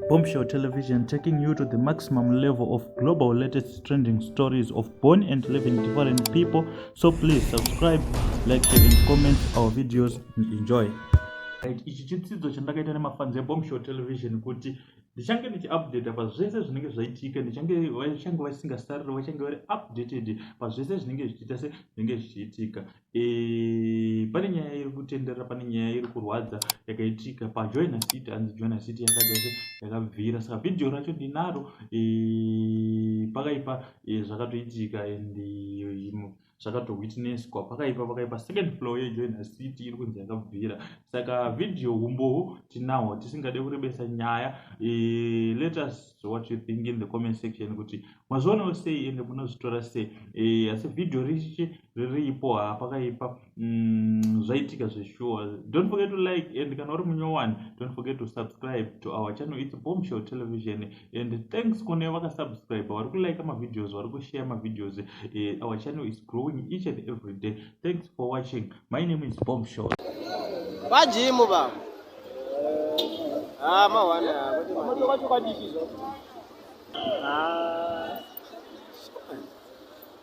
Bombshell Television taking you to the maximum level of global latest trending stories of born and living different people. So please subscribe, like, share, and comment our videos and enjoy. ichi chitsidzo chandakaita nemafanzi ebombshell television kuti ndichange ndichiupdata pazvese zvinenge zvaitika ndichange vachange vasingasariri vachange vari updated pazvese zvinenge zvichiita se zvinenge zvichiitika Eh, pane nyaya iri kutenderera pane nyaya iri kurwadza yakaitika pajoina city hanzi joina city yakaita se yakabvira saka vhidhiyo racho ndinaro eh, pakaipa eh, zvakatoitika and zvakatowitnesswa pakaipa pakaipa second floor yejoina city iri kunzi yakabvira saka vhidhiyo humboho tinahwo tisingade kurebesa nyaya let us what you think in the comment section kuti mazvionawo sei ende munozvitora sei asi vhidhiyo richichi riripo haa pakaipa mm, zvaitika zveshuwa don't forget to like and kana uri munyowani don't forget to subscribe to our channel its bombshell television and thanks kune vakasubscribe vari kulike mavideos vari kushare mavideos uh, our channel is growing each and every day thanks for watching my name is bombshell vajimu va ah, mawana ah,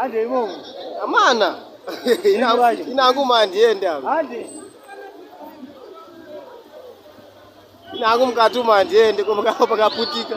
Ande imomo. Amana. Inangu manje ende apa. Ande. Nangu mukati umu handiende, ko pakanga pakaputika.